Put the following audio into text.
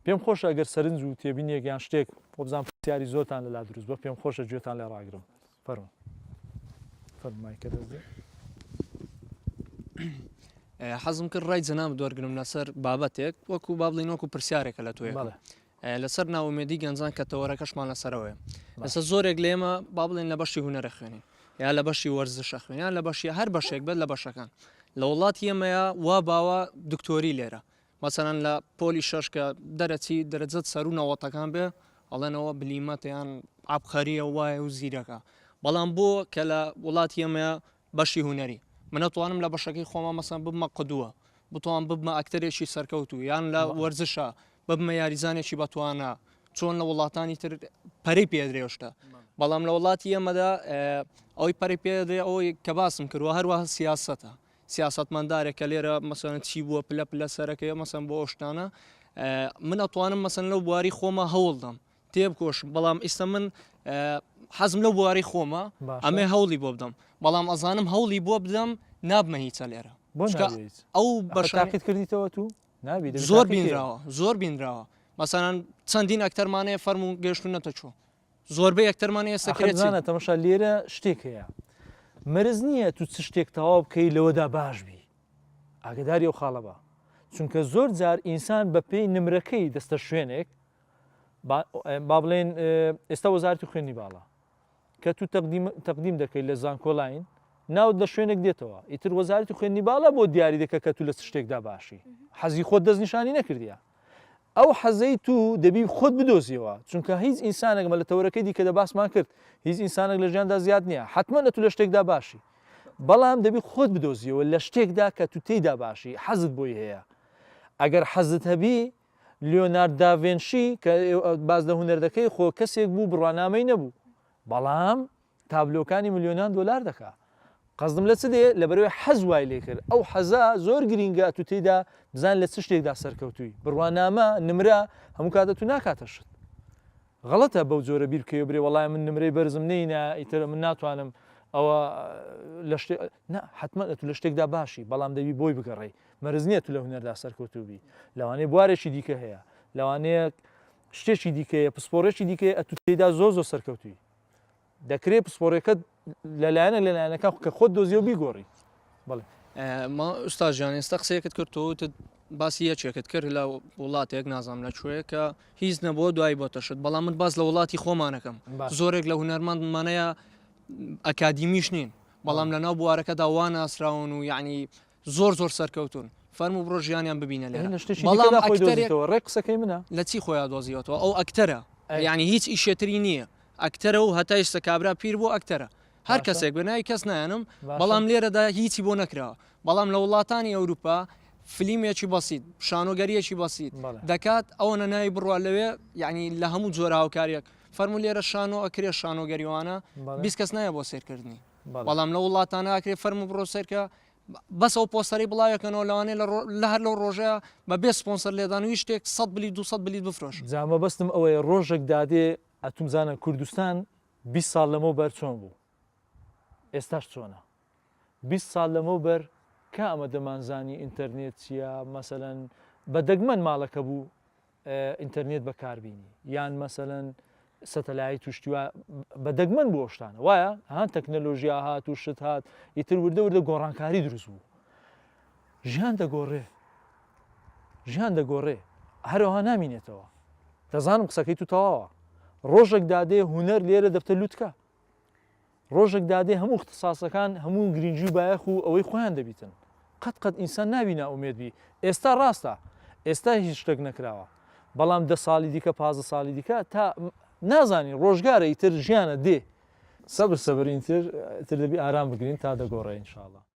پێم خۆشە ئەگەر سەرنج و تێبینیەک یان شتێک وەبزانم پرسیاری زۆرتان لەلا دروست بوە پێم خۆشە گوێتان لێ ڕاگرم فەرمو فەرمایکە دەست دێ حەزم کرد ڕای جەناب دوەرگرم لەسەر بابەتێک وەکو بابلین وەکو پرسیارێکە لە توێ بەڵێ لەسەر ناومێدی گەنجان کە تەوەرەکەشمان لەسەرەوەی لەسەر زۆرێک لێمە با بڵێن لە بەشی هوەرە خوێنین یا لە بەشی وەرزشە خوێنیان لە بەشی هەر بەشێک بێت لە بەشەکان لە وڵاتی ئێمەیە وا باوە دکتۆری لێرە مەسەلەن لە پۆلی شەش کە دەرەچی دەرەجەت سەروو نەوەتەکان بێ ئەڵێن ئەوە بلیمەتە یان عەبقەریە و وایە و زیرەکە بەڵام بۆ کە لە وڵاتی ئێمەیە بەشی هونەری من ئەتوانم لە بەشەکەی خۆما مەسەن ببمە قدوە بتوان ببمە ئەکتەرێکی سەرکەوتوو یان لە وەرزشە ببمە یاریزانێکی بەتوانە چۆن لە وڵاتانی تر پەری پێدرێشتە بەڵام لە وڵاتی ئێمەدا ئەوی پەری پێدرێ ئەوەی کە باسم کردوە هەروە سیاستە سیاسەتمەندارێک کە لێرە مەسەلەن چی بووە پلە پلە سەرەکەیە مەسەن بۆ ئەوشتانە من ئەتوانم مەسەن لەو بواری خۆمە هەوڵدەم تێبکۆشم بەڵام ئیستا من حەزم لەو بواری خۆمە ئەمێ هەوڵی بۆ بدەم بەڵام ئەزانم هەوڵی بۆ بدەم نابمە هیچە لێرە ئەو بەشاقیت کردیتەوە تو نابی زۆر بینراوە زۆر بینراوە مەسەران چەندین ئەکتەرمانەیە فەرمو گەشتونەتە چۆ زۆربەی ئەکتەرمان ئێستا ئاخر کرێچین. زانا تەمەشا لێرە شتێک هەیە مەرز نییە تو چ شتێک تەواو بکەی لەوەدا باش بی ئاگداری ئەو خاڵە بە چونکە زۆر جار ئینسان بە پێی نمرەکەی دەستە شوێنێک با- با بڵێن اه، ئێستا وەزارەتی خوێندنی باڵا کە تو تەقدیم تەقدیم دەکەی لە زانکۆلاین ناوت لە شوێنێک دێتەوە ئیتر وەزارەتی خوێندنی باڵا بۆ دیاری دەکە کە تو لە چ شتێکدا باشی حەزی خۆت دەستنیشانی نەکردیە ئەو حەزەی تو دەبی خۆت بدۆزیەوە چونکە هیچ ئینسانێک مە لە تەوەرەکەی دیکە دە باسمان کرد هیچ ئینسانێک لە ژیاندا زیاد نییە حتممە لە تو لە شتێکدا باشی بەڵام دەبی خۆت بدۆزیەوە لە شتێکدا کە تو تێیدا باشی حەزت بۆی هەیە ئەگەر حەزت هەبی لیۆنارد داڤێنشی کە باز لە هونەر دەکەی خۆ کەسێک بوو بڕوانامەی نەبوو بەڵام تابلۆکانی ملیۆنان دۆلار دەکا قەزدم لە چ دێ لەبەرەوەی حەز وای لێ کرد ئەو حەزە زۆر گرینگە ئەتوو تێیدا بزان لە چ شتێکدا سەرکەوتووی بڕوانامە نمرە هەموو کاتە تو ناکاتە شت غەڵەتە بەو جۆرە بیر کەێ برێ وڵای من نمرەی بەرزم نینە ئیتر من ناتوانم ئەوە لە شتێ حتممە تو لە شتێکدا باشی بەڵام دەوی بۆی بگەڕی مەرز نییە تو لە هونەردا سەرکەوتوبی لەوانەیە بوارێکی دیکە هەیە لەوانەیە شتێکی دیکەیە پسپۆڕێکی دیکەیە ئەتو تێدا زۆ زۆ سەرکەوتوی دەکرێت پسپۆڕیەکەت لە لایەنە لە لایەنەکە کە خۆت دۆزیەوە بیگۆڕی بڵێ ما ئوستا ژیان ئێستا قسەیەکت کرد تۆ وتت باسی یەکێکت کرد لە وڵاتێک نازانام لە کوێ کە هیچ نەبووە دوایی بۆ تەشت بەڵام من باز لە وڵاتی خۆمانەکەم زۆرێک لە هوەرمەند مانەیە ئەکادیمیش نین بەڵام لە ناو بوارەکەدا وا ناسراون و یعنی زۆر زۆر سەرکەوتون فەرمو بڕۆ ژیانیان ببینە لێ بەڵام ڕێ قسەکەی منە لە چی خۆیان دۆزیەوەەوە ئەو ئەکتەرە ینی هیچ ئیشێتری نییە ئەکتەرە و هەتا ئێستا کابرا پیر بۆ ئەکتەرە هەر کەسێک بەنای کەس نایەنم بەڵام لێرەدا هیچی بۆ نەکراوە بەڵام لە وڵاتانی ئەوروپا فلیمێکی بەسییت شانۆگەریەکی بەسییت دەکات ئەوە نەناوی بڕوا لەوێ یعنی لە هەموو جۆرە هاوکاریەک فەرمولێرە شانۆ ئەکرێ شانۆگەریوانە بیست کەس نایە بۆ سێرکردنی بەڵام لە وڵاتانە ئاکرێ فەرمو بڕۆ سەرکە بەس ئەو پۆستەری بڵاوەکەنەوە لەوانێ لە هەر لەو ڕۆژە بە بێ سپۆنسەر لێدان و شتێک سە بلی دو بلیت بفرۆش جامە بەستم ئەوەیە ڕۆژێک دادێ ئەتوم زانە کوردستان 20 ساڵ لەمە بەر چۆن بوو ئێستاش چۆنە 20 ساڵ لەمە بەر کە ئەمە دەمانزانی ئینتەرنێت چییە مەسەەن بە دەگمەن ماڵەکە بوو ئینتەرنێت بەکار بینی یان مەسەلەن سەتەلایت و شتیوا بە دەگمەن بۆ شتانە وایە هان تەکنەلۆژیا هات و شت هات ئیتر وردە وردە گۆڕانکاری دروست بوو ژیان دەگۆڕێ ژیان دەگۆڕێ هەرەوە نامینێتەوە دەزانم قسەکەی تو تەواوە ڕۆژێک دادێ هوەر لێرە دەبتە لوتکە ڕۆژەک دادێ هەموو اختساسەکان هەموو گرینگی و بایەخ و ئەوەی خۆیان دەبیتن قەت قەت ئینسان نابی نائومێد بی ئێستا ڕاستە ئێستا هیچ شتەک نەکراوە بەڵام دە ساڵی دیکە پازدە ساڵی دیکە تا نازانی ڕۆژگارە ئیتر ژیانە دێ سەبر سەبر ئینتر ئیتر دەبی ئارام بگرین تا دەگۆڕێ ان شاء اللە.